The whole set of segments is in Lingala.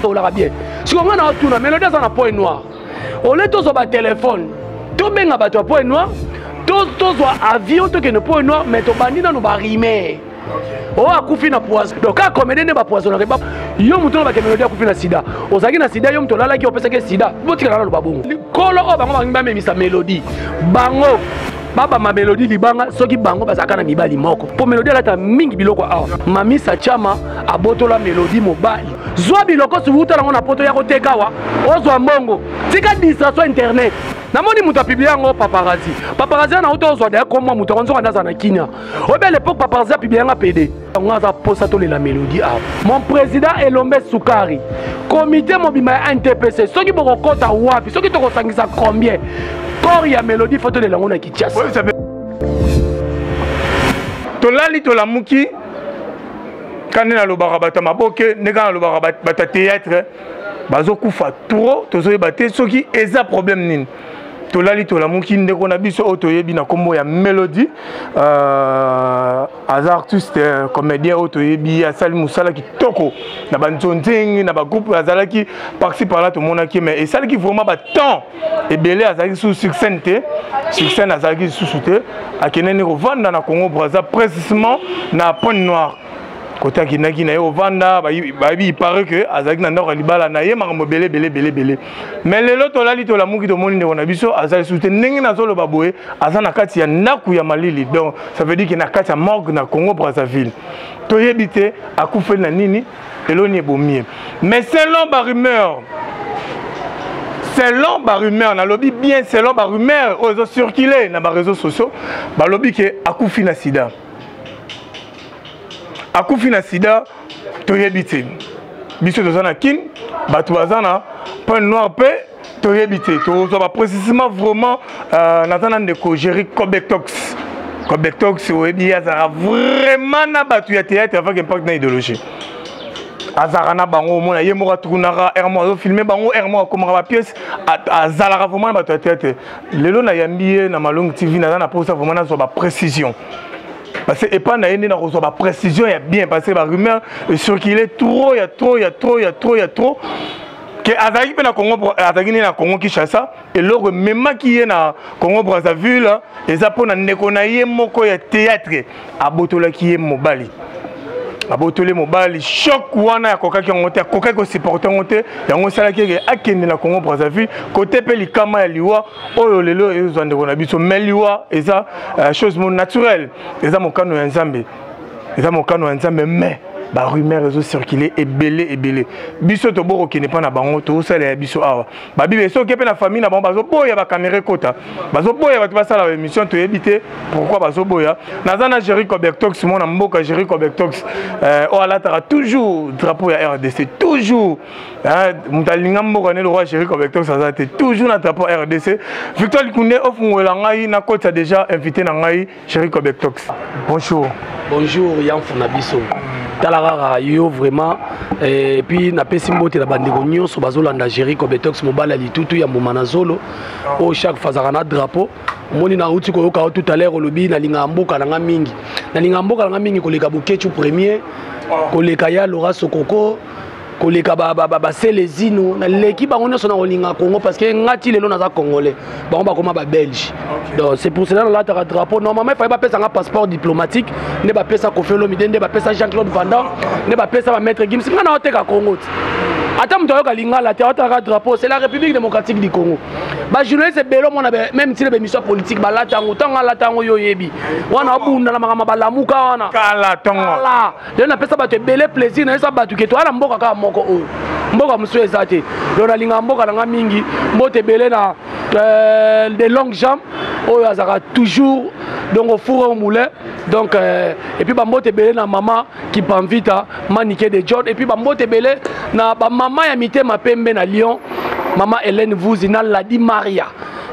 olaka bien siko ngai na otuna melodi aza na point noir ole tozwa batelefone tobenga bato ya point noir tozwa avion tokende point noir mais tobandi nano barime oyo oh, akufi na poison donc kaka comédien nde bapoisonaka ba yo moto oyo bakemelodi akufi na sida ozalaki na sida yo moto olalaki opesaki sida botikala naloba bongo kolo oyo bango balingi bamemisa melodi bango babamba melodi libanga soki bango bazalaka na mibali moko mpo melodi alata mingi biloko awa mamisa chama abotola melodi mobali zwa biloko subuta nango na poto ya koteka awa ozwa mbongo tika distraction internet namoni moto apiblie yango paparazi paparazi wana auta ozwa daya komwa moto akonzoka nde azala na kinia obi à l'époque papa nzapi biyanga pede yango aza mposa tolela mélodie awa mon président elombe sukari komité mobima ya ntpc soki bokokɔta wapi soki tokosangisa combien corps ya mélodie fo tolela yango na kinshasa tolali tolamuki kande nalobaka bato ya maboke nde kaka nalobaka bato ya théâtre bazokufa trop tozoyeba te soki eza problème nini tolali tolamuki ndeko na biso oyo toyebi na nkombo ya melody euh, aza artiste euh, comédien oyo toyebi asali mosala kitoko na banzonzenge na bagroupe azalaki parci parla tomonaki mais esalaki vraiment batemps ebele azalaki lisusu succène te succène azalaki lisusu te akendani kovanda na congo braza précisement na pointe noire kote akendaki na ye ovanda bayebi ipare ke azalaki na ndako ya libala na ye makambo ebele ebele ebele ebele me lelo tolali tolamuki tomoni ndeko na biso aza lisusu te ndenge nazoloba boye aza na kati ya ndako ya malili donc ça veut dire ke na kati ya morgue na congo brazzaville toyebi te akufeli na nini eloni ebomi ye mais selon barumeur selon barumeur nalobi bien selon barumeur oyo ezocircule na bareseau sociaux balobi ke akufi na sida akufi na sida toyebi te biso toza na kin bato baza na point noir mpe toyebi te tozwa baprécisement vraiment euh, naza na ndeko géri cobetox cobetox oyebi ye azalaka vraiment na bato ya théâtre avec impact na idéologie azalaka na bango omona ye moko atukunaka r moko azofilme bango r moko akomaka bapiece azalaka vraiment na bato ya théâtre lelo nayambi ye na malongi tv naza na mposa vraiment nazwa baprécision parce que epai na ye nde nakozwa baprécision ya bien parce que barumeur ecircule trop ya trop ya trop ya trop ya trop ke azalaki mpe na congo azalaki nde na congo kinshasa eloko ememaki ye na congo brazzaville eza mpo na ndeko na ye moko ya théâtre abotolaki ye mobali abotoli mobali shok wana akokaki yango te akokaki kosupporte yango te yango esalaki eke akende na congo brazzaville kote mpe likama ya liwa oyo lelo ezwa ndeko na biso mais liwa eza uh, chose mo naturelle eza mokano ya nzambe eza mokano ya nzambe mais barumeur ezocircule ebele ebele biso tobo kokende mpa na bango tozosalela ya biso awa babible soki mpe na famille na bango bazoboya bakamera ekota bazoboya bato basala baémission toyebi te pourkui bazoboya naza na géri cobertox mwana mboka géri cobertox euh, oyo alataka toujours drapeau ya rdc toujours Ah, moto alinga mboka nde lokola chéri covectox aza te toujours na drapeau rdc victoire likunde ofungolela ngai nakotisa déjà invité na ngai chéri covectox bonjour bonjour yamfu na biso tala kaka yo vraiment eh, epuis napesi mbote na bandeko nyonso bazolanda géri cobetox mobali ya litutu ya mbuma na zolo ah. oyo chaque fois azalaka na drapeau omoni nauti koyoka yo tout à l'heure olobi nalingaka mboka na nga mingi nalingaka mboka na nga mingi koleka bokechu premier ah. koleka ya lora sokoko koleka baselezino naleki bango nyonso na kolinga congo parce que nga ti lelo naza congolais bango bakoma babelge donc c'est pour cela nalataka drapeau normalement efai bapesa nga passeport diplomatique nde bapesa kofi olomide nde bapesa jean claude vandam nde bapesa bamaître gims nga naoteka congo ti ata moto ayoka lingala te aotalaka drapeau c'est la république démocratique du congo bajournaliste ebele omona même ntina bemission ya politique balata yango ntango alata yango yo oyebi wana obunda na makambo balamuka wana kala lelo napesa bato ebele plaisir nayesa bato ke toya na mboka kaka moko oyo mboka mosusu eza te lelo nalingaka mboka na ngai mingi mbote ebele na euh, de longue jambe oyo azalaka toujours donc ofure au moulin donc euh, epuis bambote ebele na mama kipamvita manike de john epuis bambote ebele na bamama ya mitema pembe na lyon mama hélène vuzi na ladi maria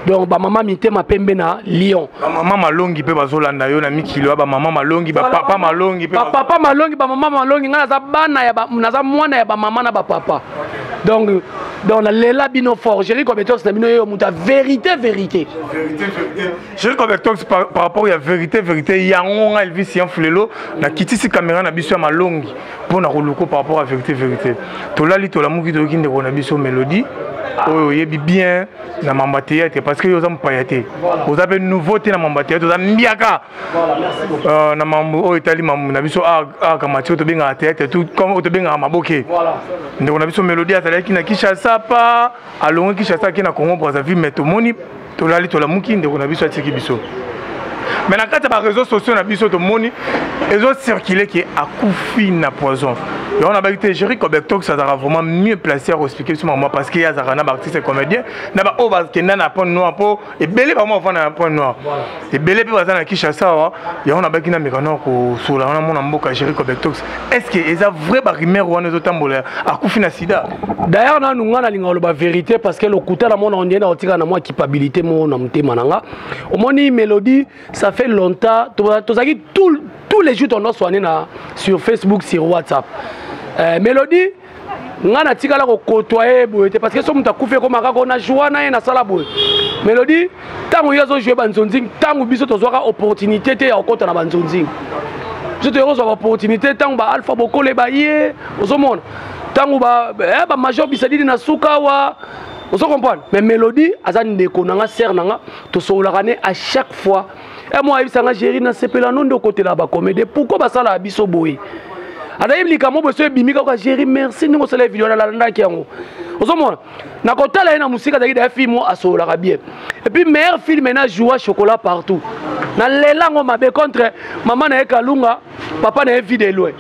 donc bamama mitema pembe na lyon bamama malongi mpe bazolanda yo na mikili ya bamama malongi bapapa malongi bapapa malongi bamama malongi ngai naza bana ya naza mwana ya bamama na bapapa donc donc nalela bino fort géri compétence na bino yeyo moto ya vérité vérité géri compétence par rapport ya vérité vérité yango ngai elvis yan fulelo nakitisi kamera na biso ya malongi mpo na koluko par rapport ya vérité vérité tolali tolamuki toyoki ndeko na biso mélodie oyo oyebi bien na mamba théâtre parce que yo oza mopaya te oza mpe nouveau te na mamba théâtre oza mbiaka euh, na mambo oyo etali mambo na biso aka mati oyo tobengaka théâtre comme oyo tobengaka maboke ndeko na biso mélodie azalaki na kinshasa pa alongi kinshasa ake na congo brazzaville mais tomoni tolali tolamuki ndeko na biso atiki biso mais na kati ya bareseau sociaux na biso tomoni ezocircule ke akufi na poison yango nabaki te géri cobectox azalaka vraiment mieux placé ya koexplike biso mama parce que ye azalaka na baartiste comédien na baoyo bakenda na point noir mpo ebele bango bavanda na point noir ebele mpe baza na kinshasa awa yango nabaki na meka nao kosola wana mona mboka géri cobectox est ce que eza vrai barumeur wana ezotambola akufi na sida d'ailleurs nanu ngai nalingaka loba verité parce que lokuta na mona ondie na kotika na mwa kipabilité moko na motema na ngai omoni mélodie ça fait longtemps tozalaki tout, tous les jours tondo soigné na sur facebook sur whatsapp euh, mélodie ngai natikala kokotoye boye te parce que so moto akufi ekomaka ko na joie na ye nasala boye mélodie ntango ye azojoue banzonzing ntango biso tozwaka opportunité te ya kokɔta na banzonzing biso toyei kozwa baopportunité ntango baalpha bokole baye ozomona ntango bamajor eh, bisadidi na suka awa ozo comprendre mais mélodie aza ndeko na nga sere na nga tosololaka ne à chaque fois e eh, mwa ayebisa nga géri nasepela no nde okotela bacomédie pourkoi basalaka biso boye anayebi likambo boso ebimi kaka géri merci ndenge osala video nalandaki yango ozomona nakotala ye na mosika azalaki daya film oyo asololaka bien epuis meilleur film ena joua chocolat partout nalela yango mabe contre mama na ye kalunga papa na ye vie de loin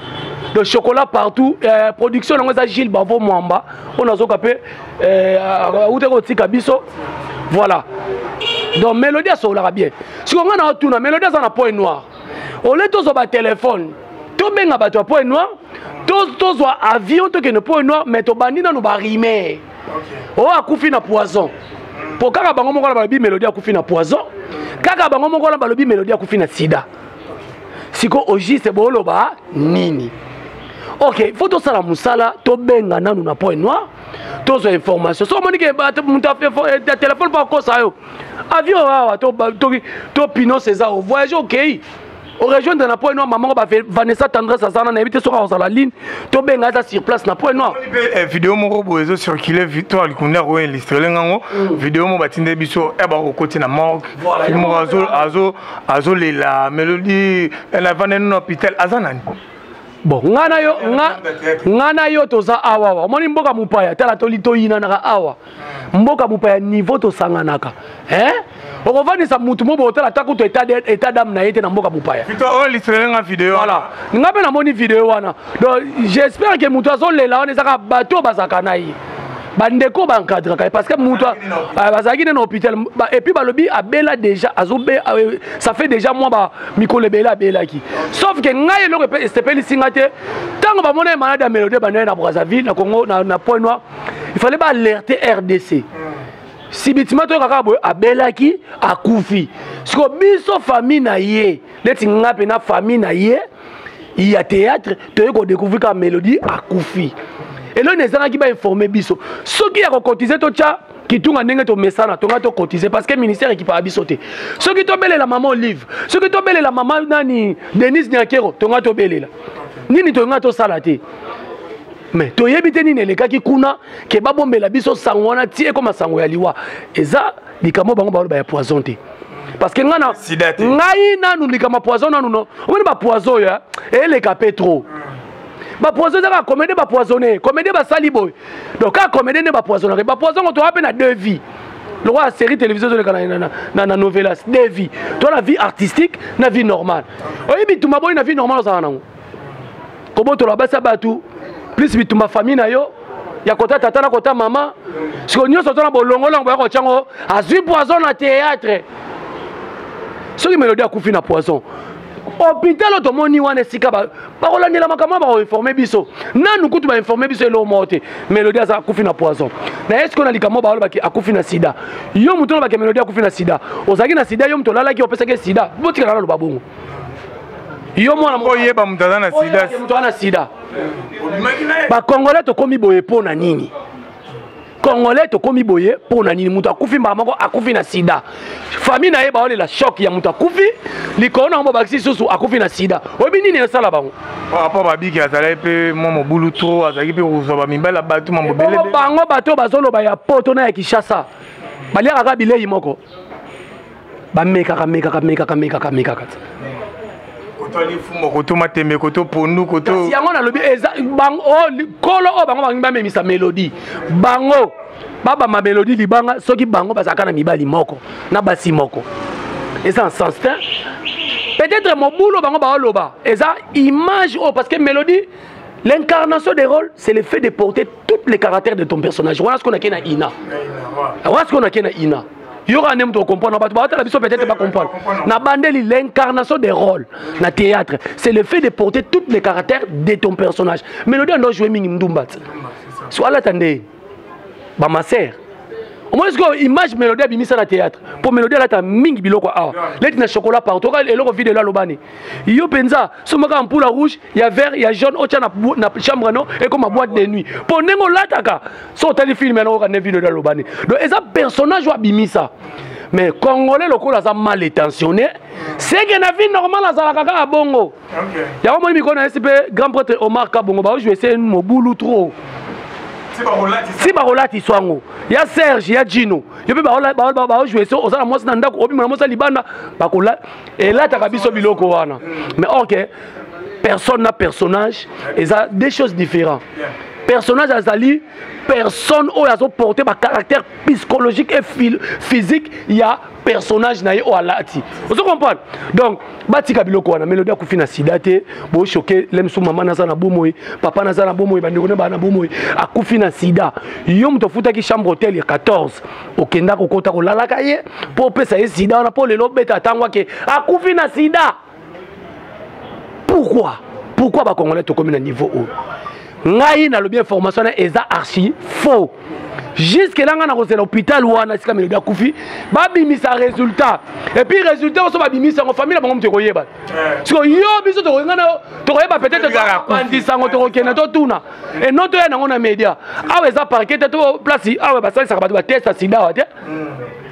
de chocolat partout euh, production yango eza gile bavo mwamba oyo nazoka mpe auta euh, kotika biso voilà donc mélodie asololaka bien siko ngai na otuna mélodie aza na point noir ole tozwa batelefone tobenga bato ya point noir tozwa avion tokende point noir mais tobandi nano barime oyo oh, akufi na poison mpo kaka bango moko na balobi mélodie akufi na poison kaka bango moko na balobi mélodie akufi na sida siko au juste boloba nini ok faut tosala mosala tobenga nanu na point noir tozwa information soki omoni ke moto ya telefone mpo akosa yo avion awa to pinos eza o voyage okei orejoindre na point noir mamango vanessa tendresse azana nayebi te soki akozala line tobenga aza sur place na point noir eh, video moko boye ezo circule victoire likunda akoenlistrele ngango mm. video moko batindeli biso ya eh, bakokoti na morgue moko azo azolela melodi navanda nino hôpital aza nani bon nga na yo nga na yo toza awa awa omoni mboka mopaya tala toyinanaka awa mboka mopaya niveau tosanganaka eh? okofandisa motu mo botala ata kutu état dame na ye te na mboka mopaya voilà nga mpe namoni video wana donc j'espère ke motu azolela wana ezaka bato bazalaka na ye bandeko baencadraka ye parce que moto ah, bazalaki nde na hôpital epuis balobi abela déjà azobe ah, euh, ça fait déjà mwa ba mikolo ebele abelaki sauf ke ngai eloko esepelisi nga te ntango bamona ye malade ya melode banda ye na brazzaville na congo na point noir il fallait baalerte rdc sibitima toyoka kaka boye abelaki akufi siko biso famille na ye neti nga mpe na famille na ye ya théâtre toyei kodécouvrir kaka mélodie akufi eloni ezangaki bainforme biso soki ya kokotize totya kitunga ndenge tomesana tonga tokotize parce que ministère ekipaka biso te soki tobelela mama olive soki tobelela mama nani denise niakero tonga tobelela nini tonga tosala te mais toyebi te nini elekaki kuna ke babombela biso sango wana ti ekoma sango ya liwa eza likambo bango baloba ya poison te parce que ngana ngai nanu likambo poison nanu no omoni bapoison oyo eleka mpe trop bapoison ezaka comédie bapoisonne comédie basali boye donc kaka comédie nde bapoisonnaka bapoison ngo toa mpe na deux vie lokola série télévision ezoleka na novelas deux vie toa na vie artistique na vie normale oyebi bitumba boyi na vie normale ozala nango kobotola basi ya bato plus bitumba famille na yo ya kota tata na kota mama sikoyo nyonso oza na bolongolongo boya kotya ngo azwi poison na théâtre soki melodi akufi na poison hôpital tomoni wana esika bakolandela makambo wana bakoinforme biso nanu kutu bainforme biso eloko moko te melodi aza akufi na poison na ye sikoyo na likambo balobaki akufi na sida yo moto olobaki melodi akufi na sida ozalaki na sida yo moto olalaki opesaki sida botikala naloba bongo yo mwana oyeba moto aza na sida moto aza na sida bakongole tokomi boye mpo na nini congolais tokomi boye mpo na nini moto akufi mbala moko akufi na sida famille na ye baolela shok ya moto akufi likolo na yango babakisi lisusu akufi na sida oyebi nini esala bango apo babiki azalaki mpe mwa mobulu tro azalaki mpe kozwa bamibali ya bato mambobele bango bato bazoloba ya poto na ya kinshasa baliaka kaka bilei moko bamekaka mekaka mekaka mekaka mekaka ti kotwali mfumo koto matembe koto pondu koto kasi yango nalobi eza bango oh, kolo oyo oh, bango balingi bamemisa melodi bango babamba melodi libanga soki bango bazalaka na mibali moko na basi moko eza en sens te peut-être mobulo bango baoloba eza image oyo oh, parce que melodi L'incarnation des rôles, c'est le fait de porter tous les caractères de ton personnage. Voilà ce qu'on a qu'à Ina. Voilà ce qu'on a qu'à Ina. yo kaka nde moto okomprendre bato baotala biso peut-être bacomprendre na bandeli l'incarnation des rôles na théâtre c'est le fait de porter toutes les caractères de ton personnage mélodie ando joue mingi mdumba ti so alata nde bamaser omoni sikoyo image mélodie abimisa na théâtre mpo mélodie alata mingi biloko awa leti na chocolat partout oka eloko video elo alobani yo mpenza somakaka mpula rouge ya vert ya jaune otya na, na chambre no ekoma boîte de nuit mpo ndenge olataka so otali filme yango oka nde vino ede alobani donc eza personnage oyo abimisa mais congolais lokola aza mal étentionné seke na vie normal azalaka kaka bongo yango moni mikolo na yesi mpe grand prêtre omar kabongo baojue se mobulu trop si bakolatisa yango ya serge ya jino yo mpe baojue so oza na mwasi na ndako obima na mwasi ya libanda elataka biso biloko wana mais ok personne na personnage eza deux choses différentes personnage azali personne oyo azoporte bacaractère psychologique et physique ya personnage na ye oyo alati ozo comprendre donc batika biloko wana melodi akufi na sida te bochoke lemsu mama naza na bomoi papa naza na bomoi bandeko na baa na bomoi akufi na sida yo moto ofutaki chambre hotel ya 14 okenda kokota kolalaka ye mpo opesa ye sida wana mpo lelo obeta ntango ake akufi na sida pourquoi pourquoi bacongolais tokomi na niveau oyo ngai nalobi information na eza archi faux juske na ngai nakozela hôpital wana esika melodi akufi babimisa résultat epuis résultat oso babimisa yango famille na bango moto ekoyeba eh. siko yo biso tokoyenga na yo tokoyeba peut-être topanzisa yango tokokende totuna e non toya nango na média awa eza parquet te to place awa basalisaka bato batesta sida awa te hmm.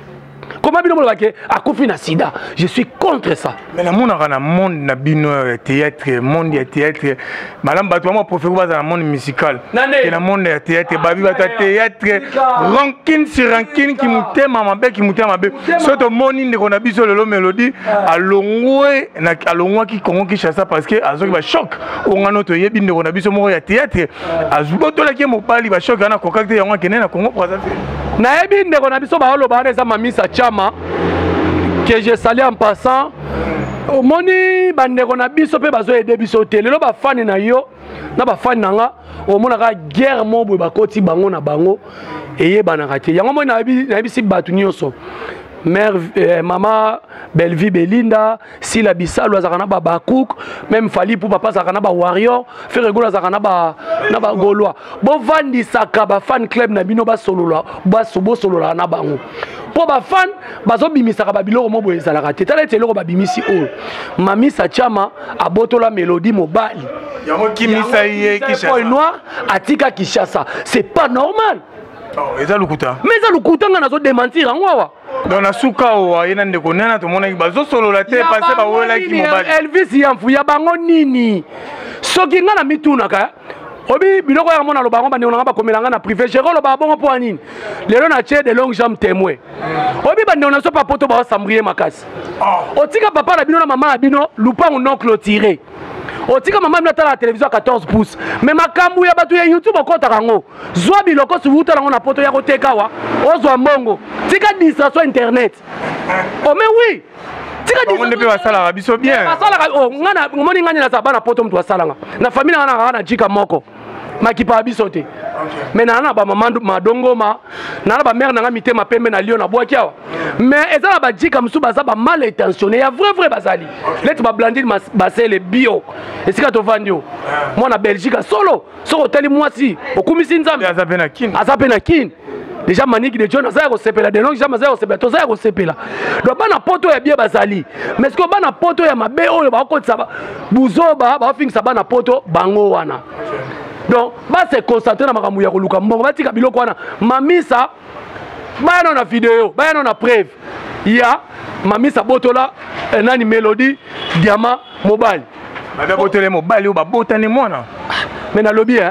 koma bino moloba ke akufi na sida je suis contre ça mais namonaka na monde na bino ya théâtre monde ya théâtre malamu bato bamwa profeko baza na monde musical ke na monde ya théâtre ah, babi bato ya théâtre rankine sur rankine kimotema mabe kimotema mabe so tomoni ndeko na biso lelo mélodie ah. alongwe alongwaki congo kinshasa parce que azoki bachoc ongano toyebi ndeko na biso moko ya théâtre azwi botolaki ye mobali bashoki wana akokaki te yango akende na congo brazzaville nayebi ndeko na biso baoloba wana eza mamisa chama que je sali en passant omoni bandeko na biso mpe bazoyede biso te lelo bafani na yo na bafani na nga omonaka guerre moko boye bakoti bango na bango eyebanaka te yango moi nayebisi bato nyonso mère euh, mama bellevue belinda sila bisalu azalaka na babacouk meme fali pupa mpe azalaka na bawarrior feregolo azalaka na bagolois bovandisaka bafan club na bino basolola bosololaka na bango mpo bafan bazobimisaka babiloko mo boye ezalaka te tala ete eloko babimisi oyo mamisa chama abotola melodi mobali yango kimisa ye kishasa noir atika kishasa c'est pas normal oh, eza lokuta mais eza lokuta ngai nazo dementir yango awa donc na suka owa ye na ndeko nena tomonaki bazosolola te pase bawelaki mobali elvis yamfu ya bango nini soki nga na mitunaka obi biloko yaka mona loba yango bandeko nanga bakomela nga na privé jero loba bongo mpo ya nini lelo na tie de longue jambe témoin obi bandeko na so pa poto baosambriye makasi ah. otika papa na bino na mama na bino lupangu non clôturé otika mama bino atala na televizio ya 14 pouce me makambo ya bato ya youtube okotaka yango zwa biloko siwuta nango na poto ya koteka awa ozwa mbongo tika distraction internet ome oh, wi nde mpe basalaka biso bien omoni ngai nde naza bana poto moto asalanga na famille nanga nanga na jika moko makipa ya biso te me naa na bamama madongoma naa na bamare na ngai mitema pembe na lio na bwaki awa me eza na bajika mosusu baza bamal intentionne ya vrai vrai bazali leti bablandine basele bio esika tovandi o mwana belgique solo soki otali mwasi okumisi nzambe aza mpe na kin deja maniki de john aza ya kosepela denok jam aza ya kosepela toza ya kosepela donc bana poto ya bie bazali mais sikoyo bana poto ya mabe oyo bakokotisa buzoba bakofingisa bana poto bango wana donc base concentre na makambo ya koluka mbongo batika biloko wana mamisa baya nao na video baya nao na preuve ya mamisa botola eh, nani melodie diama mobali babe botole mobali oyo babotani mwana me nalobi eh,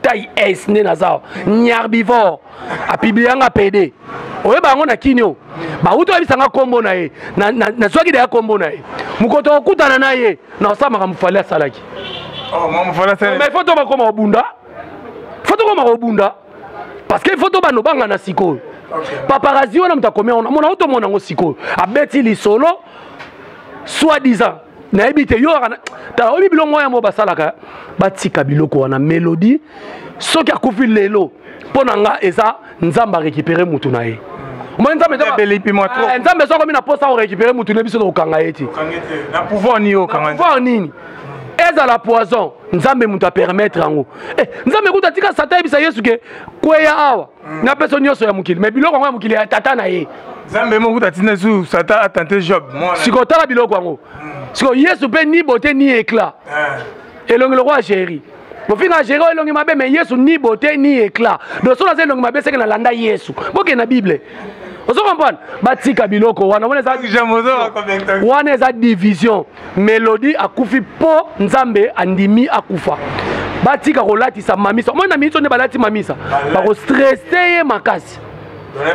tai es nde naza awa nyarbivor apiblianga pede oyeba yango na kini oyo bauti oyebisa nga nkombo na ye nazwaki deya nkombo na ye mokoto okutana na ye na osala makambo fali asalaki oh, mais fo to bakoma kobunda fo tokoma kobunda parce que fo to bando banga na sikoyo paparazi wana moto akomi yango namona otomona yango sikoyo abeti lisolo soit disant nayebi te yo tala oyebi biloko moya mo basalaka batika biloko wana melodi soki akufi lelo mpo na nga eza nzambe arekipere motu na ye omoni nzambe eh, nzambe soki okomi na mposa korekipere motu na biso tokokanga ye te na pouvoir nini ezala poison nzambe moto apermettre yango eh, nzambe kutu atika satan ayebisa yesu ke kweya awa na peso nyonso ya mokili mais biloko yango ya mokili ya tata na ye nzambe moko kuta ntina su satan atente job sikoyo tala biloko yango hmm. sikoyo yesu mpe ni bote ni éclat eh. elongi lokola géri bofinga géri oyo elongi mabe mais yesu ni bote ni éclat donc soki naza elongi mabe seke nalanda yesu bokende na bible ozo comprendre batika biloko wana wana eza division melodi akufi mpo nzambe andimi akufa batika kolatisa mamisa omoi na minso nde balati mamisa bakostrese ye makasi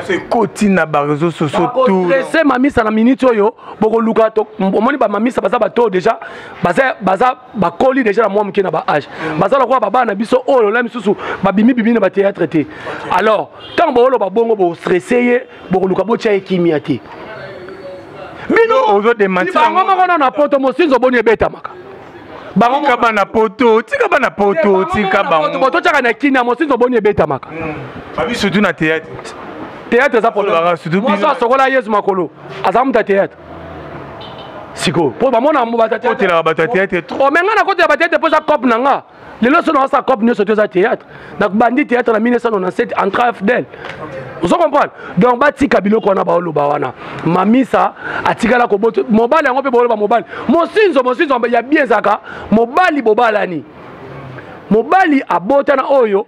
ekoti na bareseau sociaustrese mamisa na miniti oyo bokoluka omoni bamamisa baza bato oyo deja baza bakoli deja na mwa moke na baage mm. baza lokola babana na biso oyo lola misusu babimibimi na batheatre te alors ntango booloba bongo bostrese ye bokoluka botya ye kimia te binobango moko na na poto mosinzo boni ebetamaka bangotika bana poto tika bana poto tika bango totyaka na kini ya mosinzo boni ebetamaka hmm. babi surtout na théâtre théâtre eza problèmemoso asokola yesu makolo aza moto ya théâtre sikoyo mpo bamona baotelaka bato ya théâtre trop me ngai nakotela bateatre mpo eza cope na nga lelo so naosa cope nyonso toza théâtre nabandi théâtre na 1997 entra fdel ozo comprendre donc batika biloko wana baoloba wana mamisa atikala kobota mobali yango mpe baoloba mobali mosinzo mosinzo ya bien ezalaka mobali bobalani mobali abota na oyo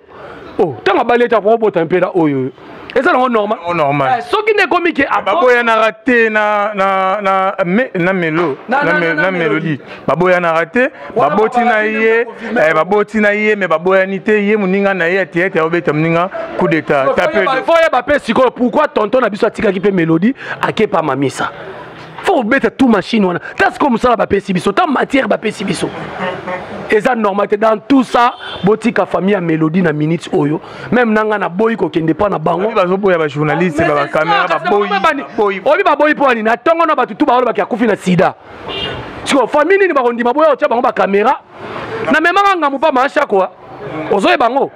oh ntango abali ete akoki kobota mpe na oyo oyo eza nango normal oh, normal eh, soki nde ekomi ke ah, baboyanaka te na na na na melo na melodie baboyanaka te baboti na ye eh, baboti na ye mais baboyani te ye moninga na ye atia ete aobeta moninga coup d'état tape fo yeba mpe sikoyo pourquoi tonton na biso atikaki mpe melodie akepa mamisa fo kobeta tout machine wana ta sikoyo mosala bapesi biso ta matière bapesi biso eza normal te dans tout ça botika famille ya mélodie na minute oyo meme na ngai naboyi kokende mpa na bango bazoboya bajournaliste babakamera baboyi obi baboyi mpo anini atongo na bato tu baolobaki akufi na sida sikoyo famille nini bakondima boya otya bango bakamera na memaka ngambo mpa maashakoa ozoyeba yango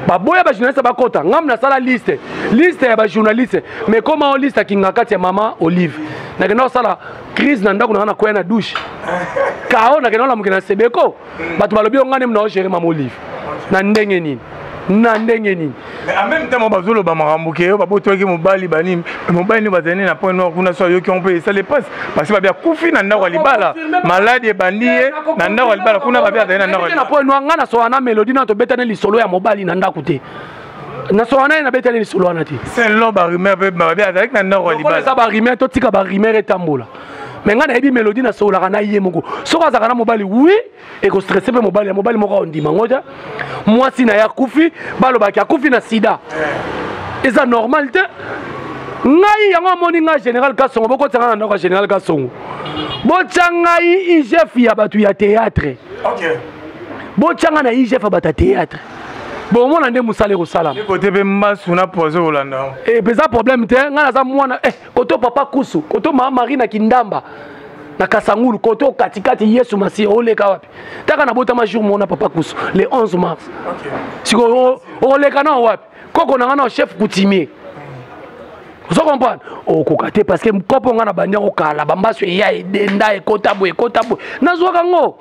baboya bajournaliste bakota ngambo nasala liste liste ya bajournaliste mais koma o liste ya kinga kati ya mama olive nakenda kosala crise na ndako na ngai nakwea na douche kao nakenda kolamuke na sebeko bato balobi yo ngai nde mna ogere mama olive na ndenge nini na ndenge nini mais en même temps bazoloba makambo ke yo babotwaki mobali banini mobali nde bazali nde na point noir kuna so ayoki yango mpe esali pasi parce babi akufi na ndako ya libala maladi ebandi ye na ndako ya libala kuna babi azali na ndako na point noir ngai nasola na melodi na tobetani lisolo ya mobali na ndako te nasola na ye nabetani lisolo wana te selon barumeur mpe babi azalaki na ndako ya libala eza barumeur totika barumeur etambola me ngai nayebi melodi nasololaka na ye moko soki azalaka na mobali wi ekostresse mpe mobali ya mobali moko aondima ngo te mwasi na ye akufi balobaki akufi na sida eza normal te ngai yango amoni ngai général kasongo bokotisanga na ndako ya général kasongo botya ngai igf ya bato ya théâtre okay. botya ngai na igf ya bato ya théâtre bomona nde mosala ekosalama kote mpe mbasu na poise kolanda e eh, mpenza problème te ngai naza mwana eh. koto papa kusu koto mama marie na kindamba na kasangulu koto katikati yesu masiya oleka wapi taka nabotama jour mona papa kusu le 11 mars sikoyo oleka nao wapi koko na ngai nao chef coutumier ozo comprendre okoka te parce que kopo ngai na bandi yango kala bambaso eya edenda ekota boye ekota boye nazwaka yango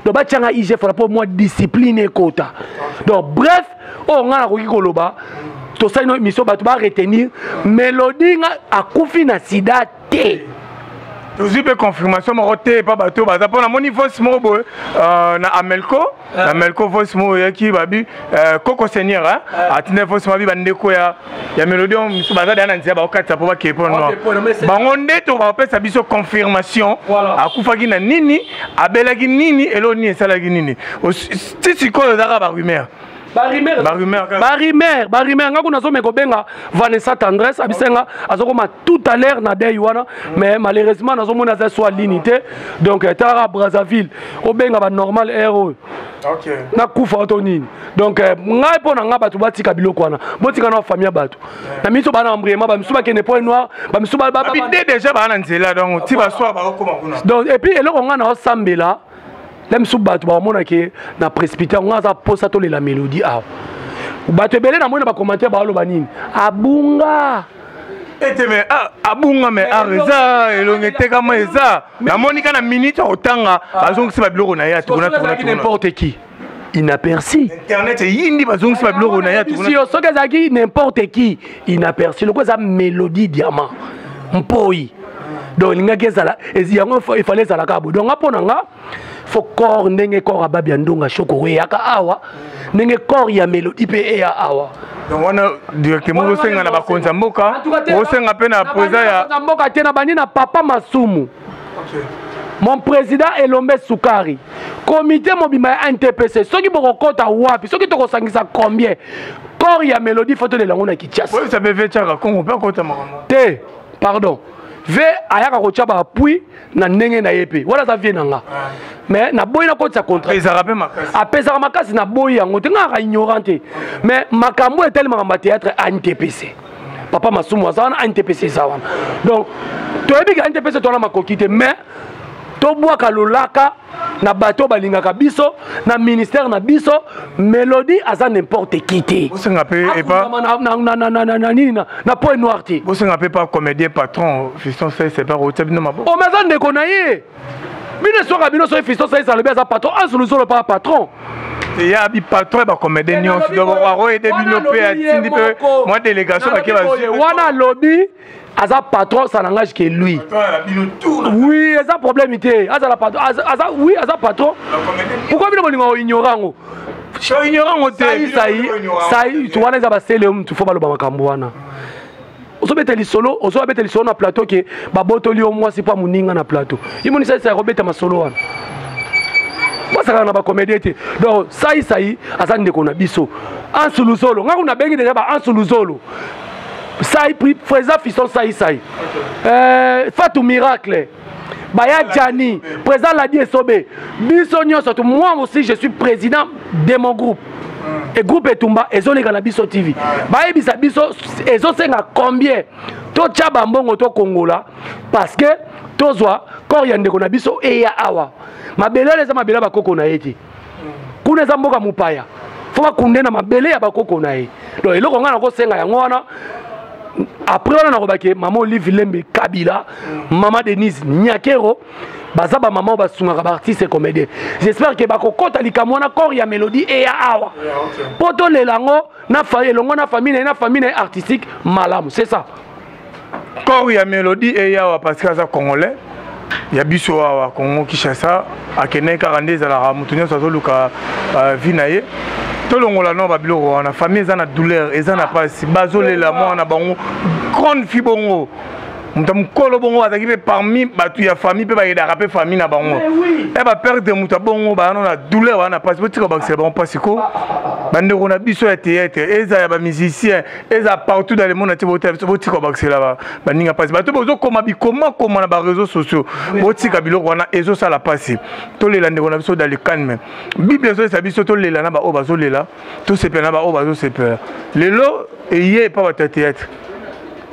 donc batya nga igf wana mpo mwa discipline ekota donc bref oyo oh, ngai nakoki koloba tosali no émission bato baretenir melodi nga akufi na sida te tozwi mpe confirmation moko te epa bato oyo baza mpo namoni voice moko boye euh, na amelco na ah. amelco voice moko oyaki babi euh, koko seigneur atindai voice mabi bandeko ya ya melodi oyo mosusu baza deya na nzela bakokatisa mpo bakei mpo noir bango nde to bakopesa biso confirmation akufaki na nini abelaki nini eloo nini esalaki nini ti sikoyo ezaka barumeur barumeur nga kuna azomeka kobenga vanessa tendresse abisenga azokoma tout à l'heure na dei wana mais malheureusement nazomona aza so alini te donc eh, talaka brazzaville obenga banormal air oyo nakufa to nini donc eh, ngai mpo na ngai bato batika biloko wana botika na famille ya bato na miso bana embriema bamisusu bakende point noir bamisusu bide déjà baa na nzela donc ti baswa bakokoma kuna donc epuis eloko ngai naosambela la misu bato bakomona ke na précipité yango aza mposa tolela mélodie awa bato ebele namoni na bacommentaire baoloba nini abunga ete me ah, abunga me ar ah, eza elongi etekama eza namonika na minute akotanga ah. bazongisi babiloko na ye atukunatukunatukunimporte qui inaperci internet eyindi bazongisi babiloko na ye yo soki ezalaki n'importe qui inaperci lokola eza mélodie diamant mpoi donc elingaki ezala yango efale ezala kaka boye donc nga mpo na nga fo corps ndenge corps ababi ya ndonga shokoro eyaka awa ndenge corps ya mélodie mpe eya awa donc wana directement osenga na bakonzi ya mboka osenga mpe na président ya mboka te na bandi na papa masumu okay. mon président elombe sukari komite mobimba ya ntpc soki bokokɔta wapi soki tokosangisa combien corps ya mélodie fo tolela yango na kinshasa te pardon ve ayaka kotya baappui na ndenge na ye mpe wana aza vie na nga mais naboyi nakotisa contratapesaka makasi naboyi yango te ngaka ignorant te mais makambo etali makambo ya théâtre antpc papa masumu aza wana antepese eza wana donc toyebi ke antepese to wana makoki te mais tobwaka lolaka na bato balingaka biso na ministère na biso melodie aza n'importe qui te bosenga mpe epa na nini na point noir te bosenga mpe pa comédien patron fiston sese epa koutia bino maboko omaza oh, ndeko na ye bino eswaka bino soki fisto saisa alobi aza patron ansu luzolo paa patron ya bipatron ya bacomédien nyonso donc akoyede bino mpe atindi mpe mwa délégation bake bazwi wana alobi aza patron ça n'engage que lui oui eza problème te azala patron aza oui aza patron pourquoi bino bolinga oignore yango oignore yango te sai sai wana eza basele mutu fo baloba makambo wana ozobeta lisolo ozobeta lisolo na plateau ke babotoli yo mwasi mpo moninga na plateau imonisa esa ya kobeta masolo wana basakaka na bacomédien te donc saisai aza ndeko na biso ansu luzolo ngai kuna bengi deja ba ansu luzolo sai freza fison saisai euh, fatu miracle baya jani président ladi esobe biso nyonso tu moi aussi je suis président de mon groupe e groupe etumba ezoleka na biso tv bayebisa biso ezosenga combien totya bambongo tokongola parce que tozwa corps ya ndeko na biso eya awa mabele wana eza mabele ya bakoko na ye te kuna eza mboka mopaya fo bakunde na mabele ya bakoko na ye donc eloko ngai nakosenga yango wana après wana nakobaki mama olive lembe kabila mama denise nyakero baza bamama oyo basungaka baartiste comédien j'espère ke bakokɔta likambo wana corps ya mélodie eya awa mpo tolela yango na elongo na famille na ye na famille na ye artistique malamu c'est ça corps ya melodie eya awa parce que aza congolais ya biso awa congo kinshasa akendaki kaka nde ezalaka moto nyonso azoluka euh, vie na ye tolongola no babiloko wana famille eza na douleur eza na mpasi bazolela mwana na bango grande fi bongo moto ya mokolo bongo bazalaki mpe parmi bato ya famille mpe bayedaka mpe famille na bango e baperte moto ya bongo bayano na douleur wana na mpasi botika bakisela bango mpasi ko bandeko na biso ya théâtre eza ya bamusicien eza partout dans le monde ati botala biso botika bakisela baninga mpasi bato bozokoma bikomakoma na bareseau sociaux botika biloko wana ezosala mpasi tolela ndeko na biso dans le calme bible ezolesa biso tolela na baoyo bazolela tosepela na baoyo bazosepela lelo eye epa bato ya théâtre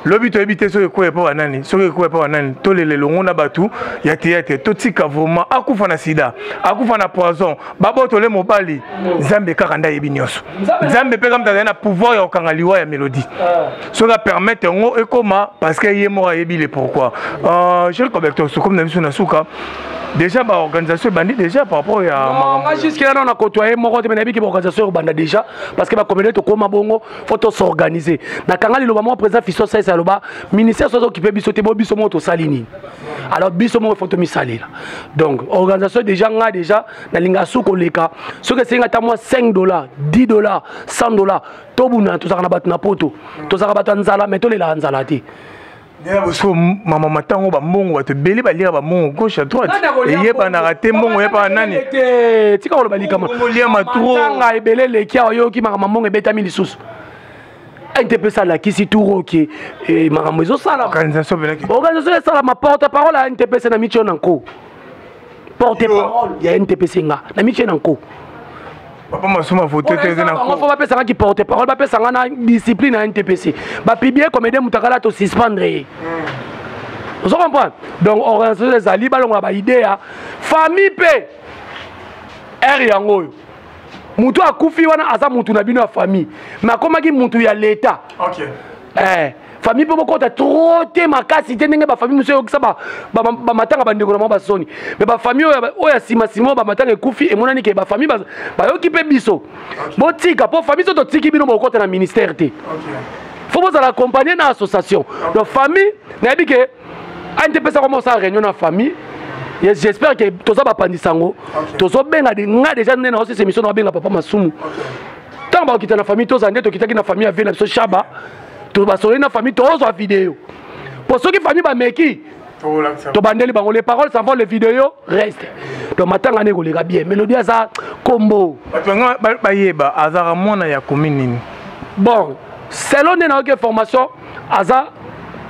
lobi toyebi te soki ekoya epa banani soki ekoya epa banani tolela elongo na bato ya théâtre totika vraiment akufa na sida akufa na poison babotole mobali nzambe kaka nde ayebi nyonso nzambe mpe kamta azali na pouvoir ya kokanga liwa ya mélodie ah. soki apermettre yango ekoma parce que ye moko ayebi le pourquoi euh, jel cobector sokomi na biso na suka déjà baorganisation ebandi déjà par rapport ya nga jusque là na kotoa ye moko te me nayebi ke baorganisation ekobanda déjà parce que bakomede tokóma bongo fo tosorganize nakanga liloba moko président fiso saisa aloba ministère soki okipe biso te bo biso moko tosali nini alors biso moko faut tomisalela donc organisation déjà nga déjà nalinga su koleka soki esengi ata mwa 5 dollars 10 dollars 100 dollars tobundana tozalaka na bato na poto tozalaka bato ya nzala mai tolelaka nzala te ndenge bosuku mama matango bambongo bato ebele baliaka bambongo gauche à droite eyebanaka te mbongo eyebaka nani tika koloba likamaoliama trotanga ebele eleki awa yoki makambo mbongo ebetami lisusu ndps alakisi turo ke eh, makambo ezosalama organisation esalama porte parole ya ndps na mitio na nko porte parole ya ndps nga na mitio na nko papa masuma vote te eza na ko fo bapesaka ki porte parole bapesanga na discipline ya ntpc bapiblie comédien moto akala tosuspendre ye hmm. ozo comprendre donc organisation ezali balongola baidea famille mpe ere yango oyo mutu akufi wana aza mutu na bino ya famille me akomaki mutu ya leta okay. eh, famille mpe bokota tro te makasi te ndenge bafamille mosusu eyokisa bamatanga bandeko na bango basoni me bafamille oyo ya nsima nsima oyo bamatanga ekufi emonani ke bafamille bayoki mpe biso botika mpo famille so totiki bino bokota na ministère te fo bozala accompagne na association donc famille nayebi ke ante pesa koma osala réunion na famille j'espère que toza bapandisa yango tozobenga nga déjà nde na osesa émission na babenga papa masumu ntango bakokita na famille tozala nde tokitaki na famille ya vie na biso shaba basololi na famille tozwa video mpo soki famille bameki tobandeli bango les paroles savant les vidéos reste donc matanga nde ekoleka bien melodi aza kombo bato yango bayeba azalaka mwana ya komi nini bon selon nde nayoki information aza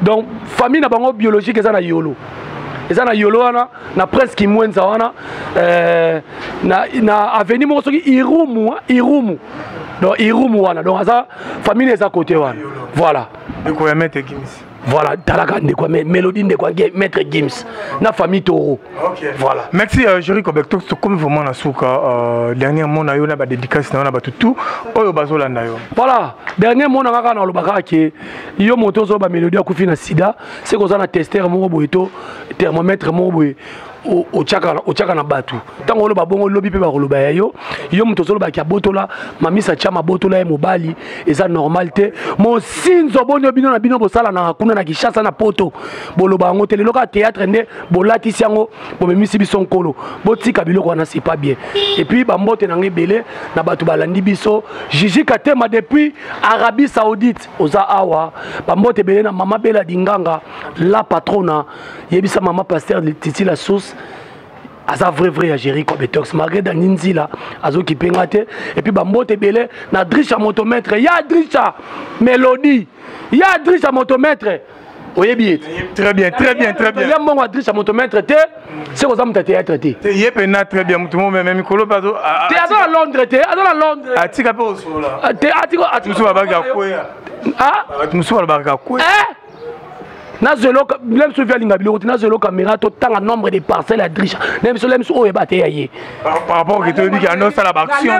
donc famille na bango biologique eza na yolo eza na yolo wana na prince kimwenza wana euh, na, na aveni moko soki irumu irumu donc irumu wana donc aza famille eza kote wana voilà voilà talaka ndeko mélodie ndeko maître gims na famille toro Okay. Voilà. Merci euh, Jerry Kobek to comme vraiment na suka euh, dernier mot na yo na ba dédicace na yo na ba tout oyo bazo landa yo. Voilà, dernier mot na kaka na lobaka ke yo moto zo ba mélodie akufi na sida, c'est ko za na tester moko boye to thermomètre moko boye otyaka na bato ntango oloba bongo olobi mpe bakoloba ya yo yo moto ozolobaki abotola mamisa tya mabotola ye mobali eza normal te mosinzo bonio bino na bino bosalanaka kuna na kishasa na poto boloba yango te lelo kaka théâtre nde bolatisi yango bomemisi biso nkolo botika biloko wana c'est pas bien epuis bambote na ngai ebele na bato balandi biso jiji katema depuis arabie saoudite oza awa bambote ebele na mama bela dinganga la patrona yebisa mama paster titi la source aza vrai vrai ya géri competox malgré dani nzila azokipe nga te epuis bambote ebele na drisha motomètre ya drisha mélodie ya drisha motomètre oyebi ye très bien très bien très bien ya mbongo adresse ya moto maître te seko oza moto ya théâtre te ye mpena très bien moto momeme mikolo mpe te aza na londres te aza na londres atika mpe osolola ah, te atika mosusu babaki akwea ah? bato mosusu balobaka akwea eh? nazwelo bile biso vi alinga biloko te nazwelo caméra totanga nombre de parcelle ya drisha na biso la biso oyo eba te ya ye par rapport ke toyebi ke anosala baaction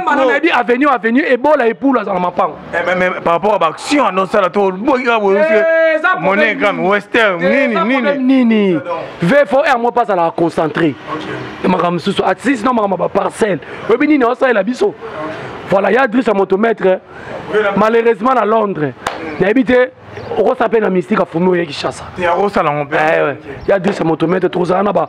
avenue avenue ebola epulu aza na mapango Eh, mais, mais par rapport à baction anosala to boyika boyemone kame wester nini nini nini vfr mo pas azalaka concentré makambo mosusu atis na makambo ya baparcelle oyebi nini aosalela biso voilà ya adresse ya moto maître malheureusement na londres nayebi te okosa mpe na mystique afumi oye kishasa ya adresse ya moto maître tokozala na ba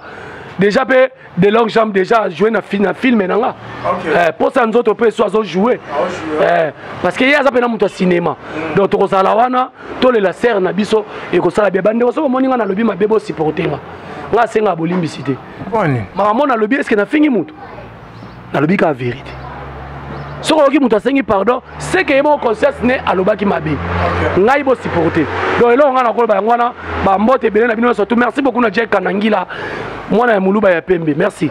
déjà mpe de longue jambe déjà ajoue na, na filme na nga okay. eh, posa nzoto mpe so azojoue ah, eh, parce que ye aza mpena moto ya cinéma mm. donc tokozala wana tolela serre na biso ekosala bia bandeko soki omoni nga nalobi mabe bosupporte nga nga asengaka bolimbisi te makambo nalobi eske nafingi moto nalobi kaka verite soki oyoki moto asengi pardon seke ye moko conscience ne alobaki mabe ngai bosupporte donc eloko ngai nakoloba yango wana bambote ebele na bino nyonso tu merci beaucoup na jack kanangila mwana ya moluba ya pembe merci